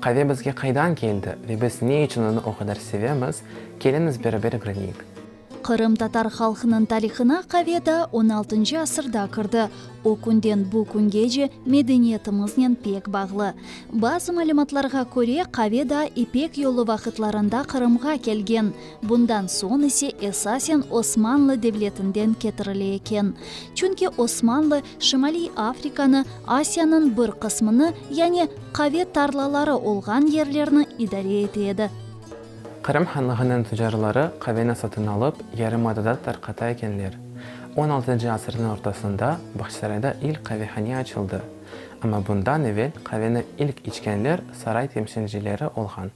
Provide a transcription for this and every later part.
Qave bizge qaydan keldi ve biz ne içün onı o qadar sevemiz, keliñiz beraber ögreneyik. Qırımtatar halqınıñ tarihına qave daa on altıncı asırda kirdi. O künden bu küngece medeniyetimiznen pek bağlı. Bazı malümatlarğa köre, qave daa İpek yolu vaqıtlarında Qırımğa kelgen, bundan soñ ise esasen Osmanlı devletinden ketirile eken. Çünki Osmanlı Şimaliy Afrikanı, Asiyanıñ bir qısmını, yani qave tarlaları olğan yerlerni idare ete edi. Qırım hanlığınıñ tüccarları qaveni satın alıp, yarımadada tarqata ekenler. On altıncı asırnıñ ortasında Bağçasarayda ilk qavehane açıldı. Amma bundan evel qaveni ilk içkenler saray temsilcileri olğan.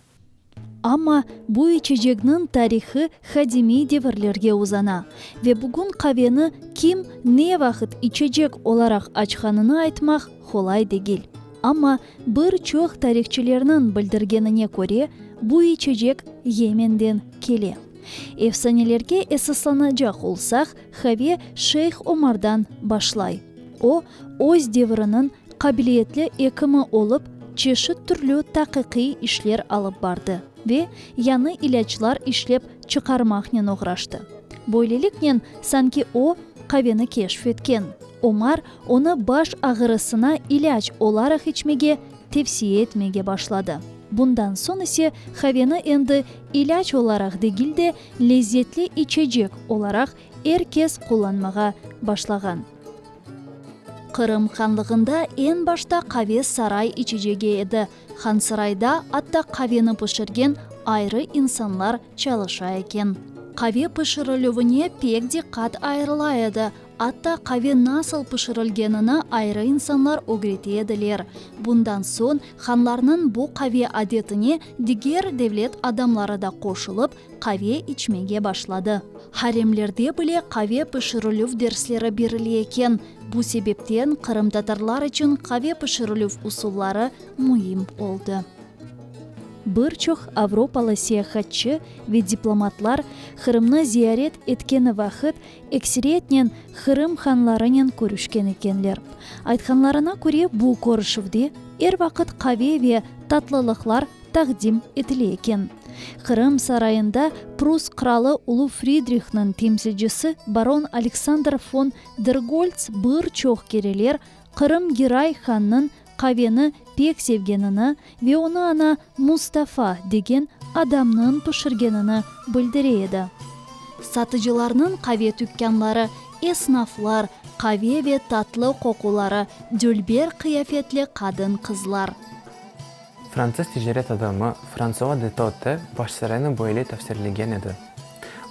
Amma bu içecekniñ tarihi qadimiy devirlerge uzana. Ve bugün qaveni kim, ne vaqıt içecek olaraq açqanını aytmaq qolay degil. Amma bir çoq tarihçilerniñ bildirgenine köre, bu içecek Yemenden kele. Efsanelerge esaslanacaq olsaq, qave Şeyh Omardan başlay. O, öz deviriniñ qabiliyetli ekimi olıp, çeşit türlü taqiqiy işler alıp bardı ve yañı ilâclar işlep çıqarmaqnen oğraştı. Böyleliknen, sanki o, qaveni keşf etken. Omar onı baş ağırısına ilâc olaraq içmege tevsiye etmege başladı. Bundan soñ ise qaveni endi ilâc olaraq degil de, lezzetli içecek olaraq er kes qullanmağa başlağan. Qırım hanlığında eñ başta qave saray içecegi edi. Hansarayda atta qaveni pişirgen ayrı insanlar çalışa eken. Qave pişirilüvine pek diqqat ayırıla edi, atta qave nasıl pişirilgenini ayrı insanlar ögrete ediler. Bundan soñ hanlarnıñ bu qave adetine diger devlet adamları da qoşulıp, Qave içmege başladı. Haremlerde bile qave pişirilüv dersleri berile eken. Bu sebepten qırımtatarlar içün qave pişirilüv usulları müim oldı. Bir çoq avropalı seyahatçı ve diplomatlar Qırımnı ziyaret etkeni vaqıt ekseriyetnen Qırım hanlarınen körüşken ekenler. Aytqanlarına köre, bu körüşüvde er vaqıt qave ve tatlılıqlar taqdim etile eken. Qırım sarayında Prus qralı Ulu Fridrihniñ temsilcisi baron Aleksandr fon der Golts bir çoq kereler Qırım Giray hannıñ qaveni pek sevgenini ve onı ana Mustafa degen adamnıñ pişirgenini bildire edi. Satıcılarnıñ qave tükkanları, esnaflar, qave ve tatlı qoquları, dülber qıyafetli qadın-qızlar. Fransız ticaret adamı Fransua de Totte Başsarayına böyle tafsirlegen edi,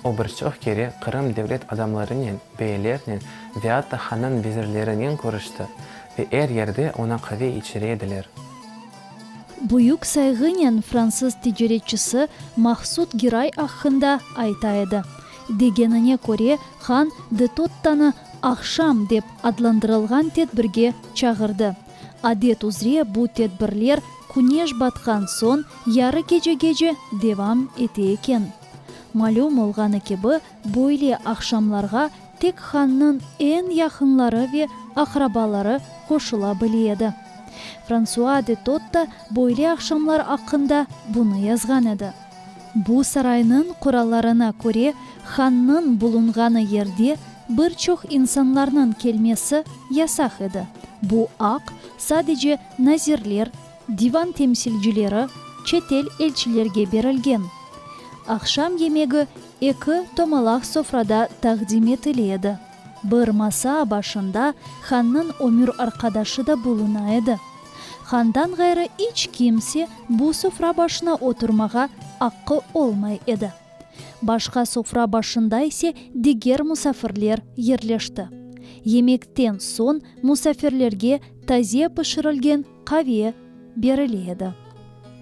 O bir çoq kere Qırım devlet adamlarınen, beylernen ve atta hannıñ vezirlerinen körüşti ve er yerde oña qave içire ediler. Büyük sayğınen fransız ticaretçisi Mahsud Giray aqqında ayta edi. Degenine köre, han de Tottanı Aqşam dep adlandırılğan tedbirge çağırdı. Adet üzre bu tedbirler küneş batqan soñ yarı kecegece devam ete eken. Malüm olğanı kibi, böyle aqşamlarğa tek hannıñ eñ yaqınları ve aqrabaları qoşula bile edi. Fransua de Totta böyle aqşamlar aqqında bunı yazğan edi. Bu saraynıñ qurallarına köre, hannıñ bulunğanı yerde bir çoq insanlarnıñ kelmesi yasaq edi, bu aq sadece nazirler, divan temsilcileri, çetel elçilerge berilgen. Aqşam yemegi eki tomalaq sofrada taqdim etile edi. Bir masa başında hannıñ ömür arqadaşı da buluna edi. Handan ğayrı iç kimse bu sofra başına oturmağa aqqı olmay edi. Başqa sofra başında ise diger musafirler yerleşti. Yemekten soñ musafirlerge taze pişirilgen qaviye berile edi.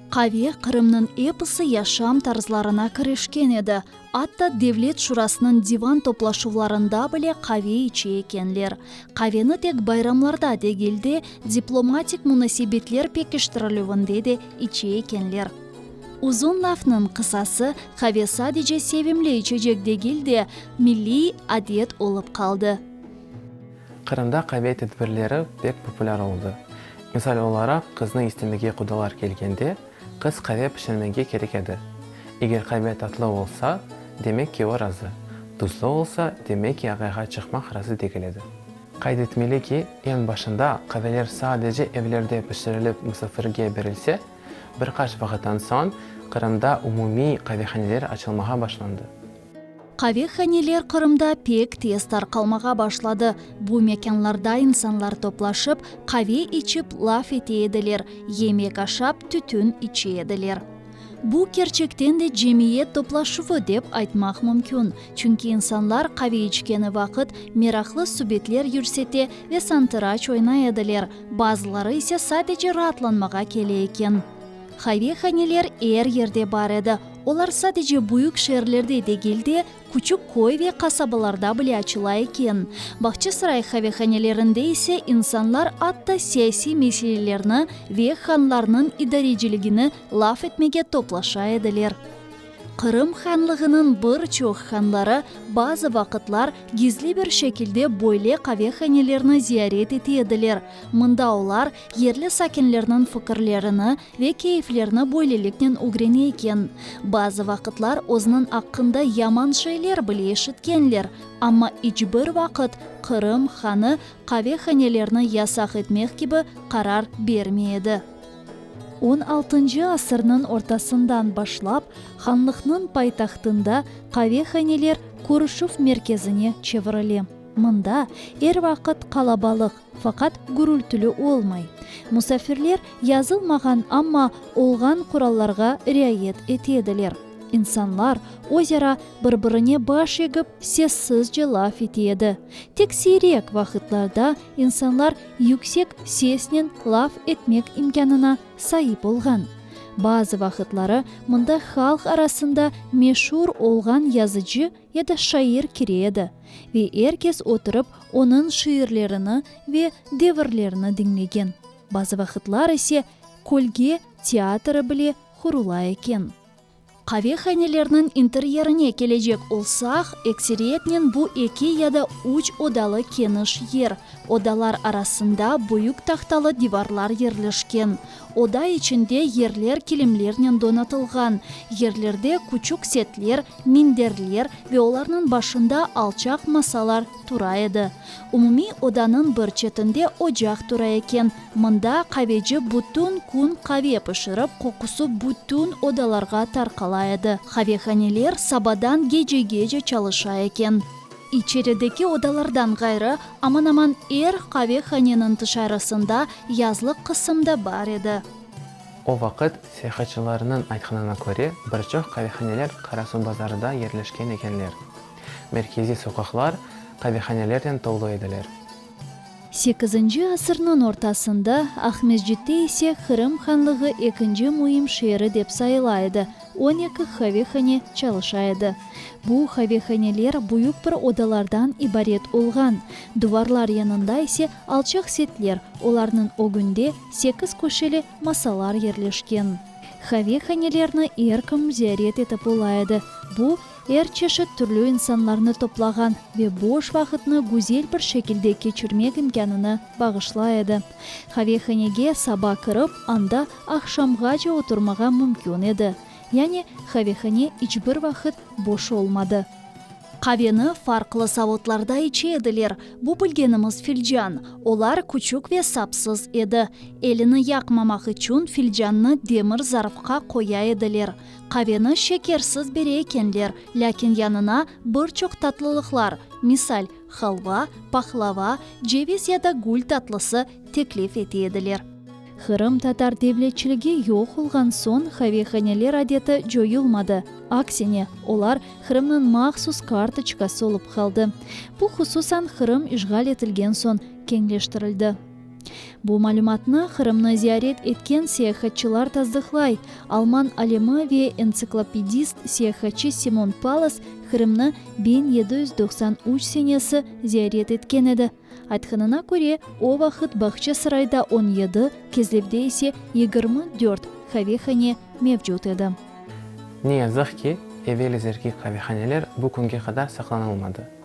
Qaviye Qırımnıñ episi yaşam tarzlarına kirişken edi, atta Devlet şurasınıñ divan toplaşuvlarında bile qaviye içe ekenler. Qaveni tek bayramlarda degil de, diplomatik munasebetler pekiştirilüvinde de içe ekenler. Uzun lafnıñ qısası, qave sadece sevimli içecek degil de, milliy adet olıp qaldı. Qırımda qave tedbirleri pek populâr oldı. Misal olaraq, qıznı istemege qudalar kelgende, qız qave pişirmege kerek edi. Eger qave tatlı olsa, demek ki, o razı, duzlı olsa, demek ki, ağayğa çıqmaq razı degil edi. Qayd etmeli ki, eñ başında qaveler sadece evlerde pişirilip musafirge berilse, bir qaç vaqıttan soñ Qırımda umumiy qavehaneler açılmağa başlandı. Qavehaneler Qırımda pek tez tarqalmağa başladı. Bu mekânlarda insanlar toplaşıp, qave içip, laf ete ediler, yemek aşap, tütün içe ediler. Bu, kerçekten de cemiyet toplaşuvı dep aytmaq mümkün, çünki insanlar qave içkeni vaqıt meraqlı subetler yürsete ve santıraç oynay ediler, bazıları ise sadece raatlanmağa kele eken. Qavehaneler er yerde bar edi. Olar sadece büyük şeerlerde degil de, küçük köy ve qasabalarda bile açıla eken. Bağçasaray qavehanelerinde ise insanlar atta siyasiy meselelerni ve hanlarnıñ idareciligini laf etmege toplaşa ediler. Qırım hanlığınıñ bir çoq hanları bazı vaqıtlar gizli bir şekilde böyle qavehanelerni ziyaret ete ediler, mında olar yerli sakinlerniñ fikirlerini Ve keyflerni böyleliknen ögrene eken. Bazı vaqıtlar özüniñ aqqında yaman şeyler bile eşitkenler, amma iç bir vaqıt Qırım hanı qavehanelerni yasaq etmek kibi qarar bermey edi. On altıncı asırnıñ ortasından başlap, hanlıqnıñ paytahtında qavehaneler körüşüv merkezine çevirile. Mında er vaqıt qalabalıq, Faqat gürültili olmay. Musafirler yazılmağan, amma olğan qurallarğa riayet ete ediler. İnsanlar özara bir-birine baş egip, sessizce laf ete edi. Tek siyrek vaqıtlarda insanlar yüksek sesnen laf etmek imkânına saip olğan. Bazı vaqıtları mında halq arasında meşur olğan yazıcı, ya da şair kire edi ve er kes oturıp onıñ şiirlerini ve devirlerini diñlegen, bazı vaqıtlar ise kölge teatrı bile qurula eken. Qavehanelerniñ interyerine kelecek olsaq, ekseriyetnen bu eki ya da üç odalı keniş yer, odalar arasında büyük tahtalı divarlar yerleşken, Oda içinde yerler kilimlernen donatılğan, yerlerde küçük setler, minderler ve olarnıñ başında alçaq masalar tura edi. Umumiy odanıñ bir çetinde ocaq tura eken, mında qaveci bütün kün qave pişirip, qoqusı bütün odalarğa tarqala edi. Qavehaneler sabadan gecegece çalışa eken. İçerideki odalardan ğayrı, aman-aman er qavehaneniñ tışarısında yazlıq qısım da bar edi. O vaqıt, seyahatçılarnıñ aytqanına köre, bir çoq qavehaneler Qarasuv bazarıda yerleşken ekenler. Merkeziy soqaqlar qavehanelerden tolu ediler. Sekizinci asırnıñ ortasında Aqmescitte ise Qırım Hanlığı ekinci müim şeeri dep sayıla edi, on eki qavehane çalışa edi. Bu qavehaneler büyük bir odalardan ibaret olğan, duvarlar yanında ise alçaq setler, olarnıñ ögünde sekiz köşeli masalar yerleşken. Qavehanelerni er kim ziyaret etip ola edi, bu, Er çeşit türlü insanlarnı toplağan ve boş vaqıtnı güzel bir şekilde keçirmek imkânını bağışlay edi. Qavehanege saba kirip, anda aqşamğace oturmağa mümkün edi. Yani, qavehane iç bir vaqıt boş olmadı. Qaveni farqlı saotlarda içe ediler, bu bilgenimiz filcan. Olar küçük ve sapsız edi. Elini yaqmamaq içün filcannı demir zarfqa qoya ediler. Qaveni şekersiz bere ekenler, lâkin yanına bir çoq tatlılıqlar, misal, halva, pahlava, ceviz ya da gül tatlısı teklif ete ediler. Qırım tatar devletçiligi yoq olğan soñ qavehaneler adeti coyulmadı, aksine, olar Qırımnıñ mahsus kartoçkası olıp qaldı. Bu, hususan, Qırım işğal etilgen soñ keñleştirildi. Bu malümatnı Qırımnı ziyaret etken seyahatçılar tasdıqlay. Alman alimi ve entsiklopedist seyahatçı Simon Palas Qırımnı biñ yedi yüz doqsan üç senesi ziyaret etken edi. Aytqanına köre, o vaqıt Bağçasarayda on yedi, Kezlevde ise yigirmi dört qavehane mevcut edi. Ne yazıq ki, evel izergi qavehaneler bu künge qadar saqlanılmadı.